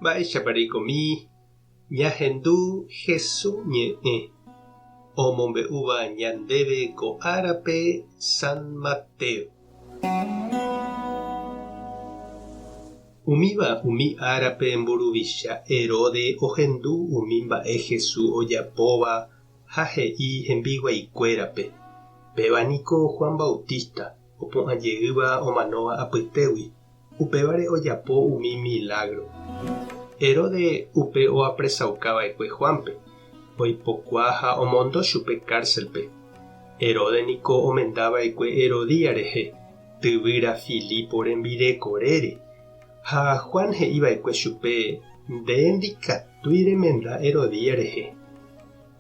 Mba'éichapa reikomi ñahendu Jesús ñe'ẽ omombe'úva ñandéve ko árape San Mateo? Umíva umi árape mburuvicha Herode ohendu umi mba'e Jesús ojapóva ha he'i hembiguaikuérape, Péva niko Juan Bautista opu'ã jeýva omanóva apytégui. Upévare ojapo umi milágro. Heróde upe oapresauka va'ekue Juánpe, oipokua ha omondo chupe kárselpe. Heróde niko omenda va'ekue Herodía rehe, tyvýra Filipo rembireko rére. Ha Juan he'i va'ekue chupe, Nde ndikatúi remenda Herodía rehe.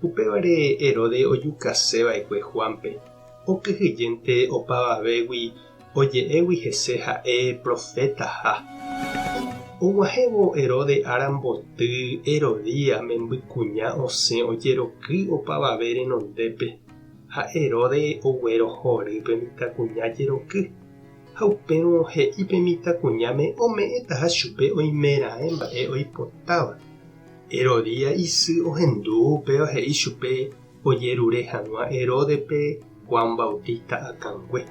Upévare Herodes ojukase va'ekue Juánpe, okyhyjénte opavavégui oje'égui hese ha'e profétaha. Og̃uahẽvo Herodes ára mboty, Herodías membykuña osẽ ojeroky opavave renondépe, ha Herodes oguerohory pe mitãkuña jeroky, ha upérõ he'i pe mitãkuñáme ome'ẽtaha chupe oimeraẽ mba'e oipotáva. Herodía isy ohendu upéva he'i chupe ojerure hag̃ua Heródepe Juan Bautista akãngue.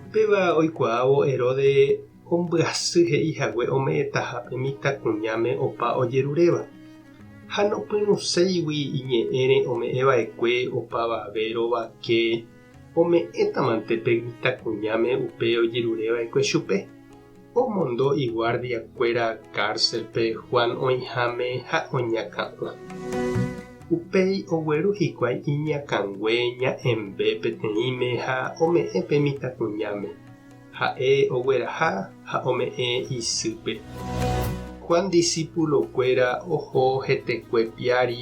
Upéva oikuaávo Herodes ombyasy he'i hague ome'ẽtaha pe mitãkuñáme opa ojeruréva, ha nopyrũséigui iñe'ẽre ome'ẽva'ekue opavave rovake ome'ẽtamante pe mitãkuñáme upe ojerureva'ekue chupe. Omondo iguardiakuéra kárselpe Juan oĩháme ha oñakã'o. Upéi ogueru hikuái iñakãngue ña'ẽmbe peteĩme ha ome'ẽ pe mitãkuñáme. Ha'e ogueraha ha ome'ẽ isýpe. Juan disípulokuéra oho hetekue piári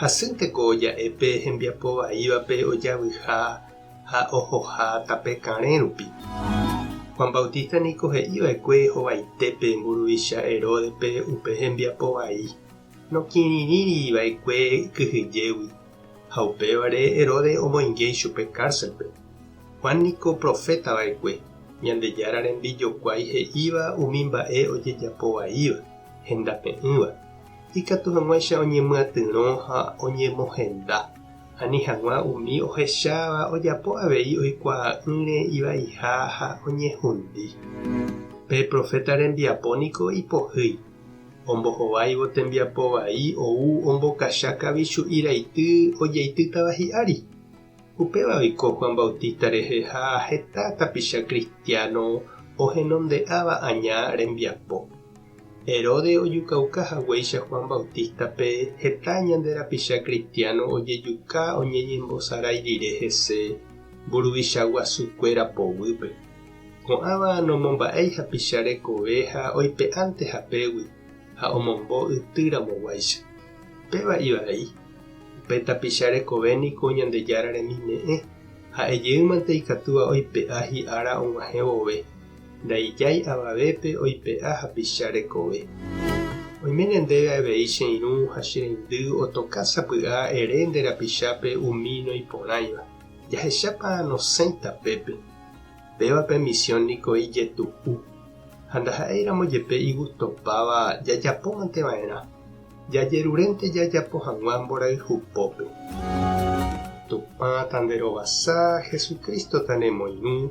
Hasýnte ko ja'e pe hembiapo vaívape ojavyiha ha ohoha tape karẽ rupi. Juan Bautista niko he'i va'ekue hovaite pe mburuvicha Heródepe upe hembiapo vai, nokirirĩri va'ekue kyhyjégui, ha upévare Herodes omoinge ichupe kárselpe. Juan niko proféta va'ekue, Ñandejára rembijokuái he'íva umi mba'e ojejapo vaíva, hendape'ỹva. Ikatu hag̃uáicha oñemyatyrõ ha oñemohenda, ani hag̃ua umi ohecháva ojapo avei oikuaa'ỹre ivaiha ha oñehundi. Pe proféta rembiapo niko ipohýi, ombohováivo tembiapo vai ou ombokacha kavichu'i raity ojeitýtava hi'ári. Upéva oiko Juan Bautista rehe ha heta tapicha kristiáno ohenonde'áva aña rembiapo. Herodes ojukauka haguéicha Juan Bautista-pe, heta ñande rapicha kristiáno ojejuka oñeñembosarái rire hese mburuvicha guasukuéra poguýpe. Ko'ãva nomomba'éi hapicha rekove ha oipe'ánte hapégui ha omombo yty ramoguáicha. Péva ivai, upe tapicha rekove niko Ñandejára remime'ẽ, ha'e jeýmante ikatúva oipe'a hi'ára og̃uahẽ vove. Ndaijái avavépe oipe'a hapicha rekove. Oiméne ndéve avei che irũ ha che reindy otoka sapy'a ere nde rapichápe umi noĩporãiva. Jahechápa nosẽita pépe. Péva pe misiõ niko ijetu'u. Ha ndaha'éiramo jepe igustopáva jajapómante va'erã. Jajerurénte jajapo hag̃ua mborayhu pópe. Tupã ta nde rovasa, Jesucristo ta ne moirũ.